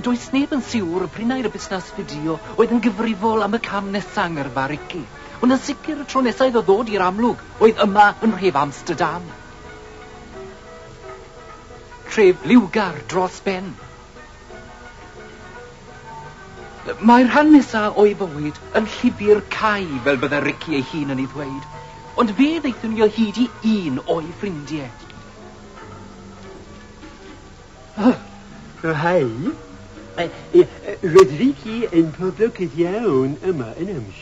Does neb yn siwr p'run ai'r busnas fideo oedd yn gyfrifol am y cam nesa' yng ngyrfa Ricky, ond yn sicr y tro nesa' iddo ddod i'r amlwg oedd yma yn nhref Amsterdam. Tref liwgar dros ben. Mae'r rhan nesa' o'i fywyd yn llyfr cau fel bydde Ricky ei hun yn ei ddweud, ond fe ddaethon ni o hyd i un o'i ffrindie. O, hei. Roedd Ricky yn poblogaidd iawn yma yn Amsh.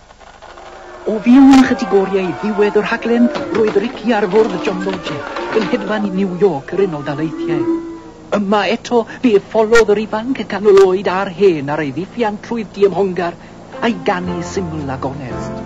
O fewn ychydig oriau i ddiwedd y rhaglen, roedd Ricky ar fwrdd John Logie, yn hedfan i New York, yr Unol Daleithiau. Yma eto, fe etholodd yr ifanc canol oed a'r hen ar ei ddiffiant trwy'r diymhongar a'i ganu syml a gonest.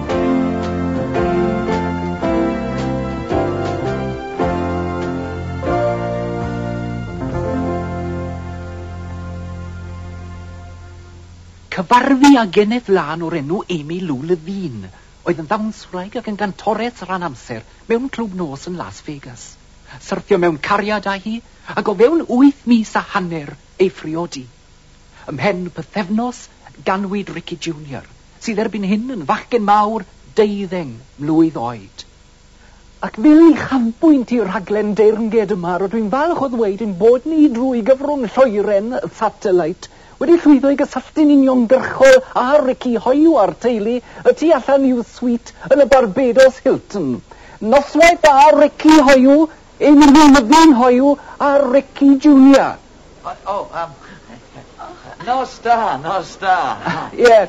Cyfarfu â geneth lân o'r enw Amy Lou Levine, oedd yn ddawnswraig ac yn gantores rhan amser mewn clwb nos yn Las Vegas. Syrthio mewn cariad â hi, ac o fewn wyth mis a hanner, ei phriodi. Ymhen pythefnos, ganwyd Ricky Junior, sydd erbyn hyn yn fachgen mawr deuddeng mlwydd oed. Ac fel uchafbwynt i'r rhaglen deyrnged yma, rydw i'n falch o ddweud ein bod ni, drwy gyfrwng lloeren y satellite, wedi llwyddo i gysylltu'n uniongyrchol â Ricky hoyw a'r teulu y tu allan i'w suite yn y Barbados Hilton. Noswaith dda, Ricky hoyw! Yn y newyddion hoyw ar Ricky Junior. O, o, yym, nos da, nos da. Ie,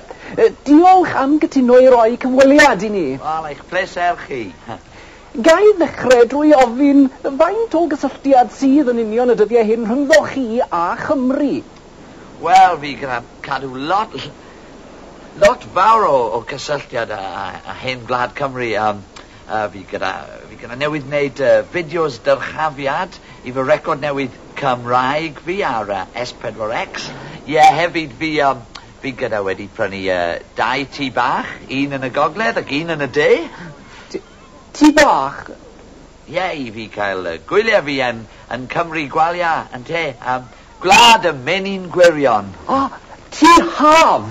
diolch am gytuno i roi cyfweliad i ni. Wel, eich pleser chi. Ga i ddechrau drwy ofyn faint o gysylltiad sydd yn union y dyddiau hyn rhyngddo chi a Chymru? Wel, fi gyda cadw lot, lot fawr o, o gysylltiad â, â hen gwlad Cymru. Yym. A fi gyda, fi gyda newydd wneud yy fideos dyrchafiad i fy record newydd Cymraeg fi ar yy Es Pedwar Ecs. Ie, hefyd fi yym, fi gyda wedi prynu yy dau tŷ bach, un yn y gogledd ac un yn y de. T- tŷ bach? Ie, i fi cael yy gwyliau fi yn yn Cymru gwalia, ynte? Yym, gwlad y menyn gwirion. O! Tŷ haf!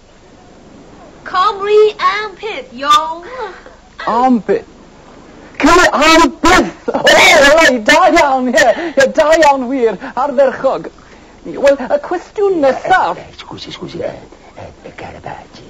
Cymru am byth, iawn! Am byth. Cymru am byth! O, reit, da iawn, ie, ie, da iawn wir, ardderchog. Wel, y cwestiwn nesaf... Scusi, scusi, y Garibaldi.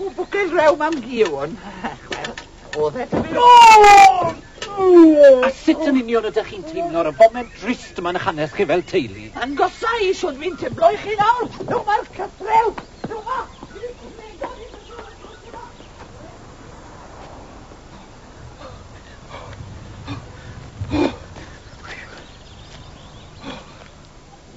O, bwcel rew mam Gion. Wel, oedd e dyfu... A sut yn union ydych chi'n teimlo ar y foment drist yma'n hanes chi fel teulu? Yn gosau, siwr fi'n teimlo i chi nawr. Dyma'r cytrew. Dyma.